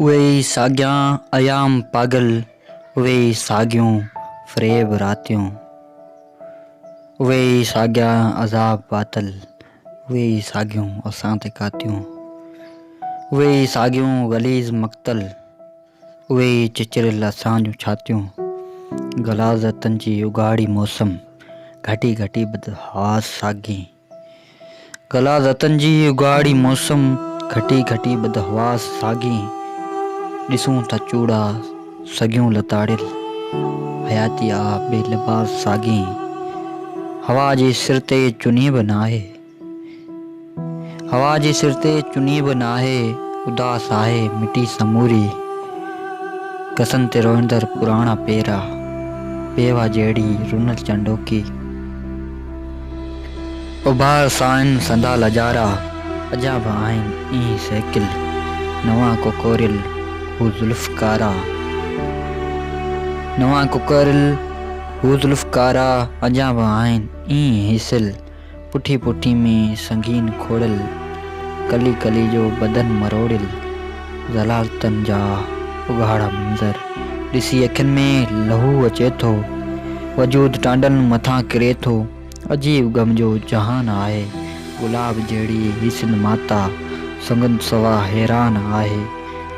اهي ئي ساڳيان ايام پاڳل، اهي ئي ساڳيون فريب راتيون. اهي ئي ساڳيا عذاب پاتل، اهي ئي ساڳيون اسان تي ڪاتيون. اهي ئي ساڳيون غليظ مقتل، اهي ئي چچريل اسان جون ڇاتيون. غلاظتن جي اگهاڙي موسم، گهٽي گهٽي بدحواس ساڳين. غلاظتن جي اگهاڙي موسم، گهٽي گهٽي بدحواس ساڳين، ڏسون ٿا چوڙا سڳيون لتاڙيل، حياتي آ بي لباس ساڳين، هوا جي سر تي چني به ناهي، هوا جي سر تي چني به ناهي، اداس آهي مٽي سموري، گسن تي روئندڙ پراڻا پيرا، پيوا جهڙي رنل چنڊوڪي. اڀار سائين سندا لڄارا اجا به آهن ايئن سهڪيل نوان ڪوڪوريل هو زلف ڪارا نوان ڪوڪوريل هو زلف ڪارا اجا به آهن ايئن هيسيل پٺي پٺي ۾ سنگين کوڙيل ڪلي ڪلي جو بدن مروڙيل ذلالتن جا اگهاڙا منظر ڏسي اکين ۾ لهو اچي ٿو، وجود ٽانڊن مٿان ڪري ٿو، عجيب غم جو جهان آهي، گلاب جهڙي هي سنڌ ماتا سنگت سوا حيران آهي،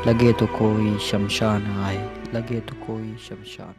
لڳي ٿو ڪوئي شمشان آهي، لڳي ٿو ڪوئي شمشان آهي.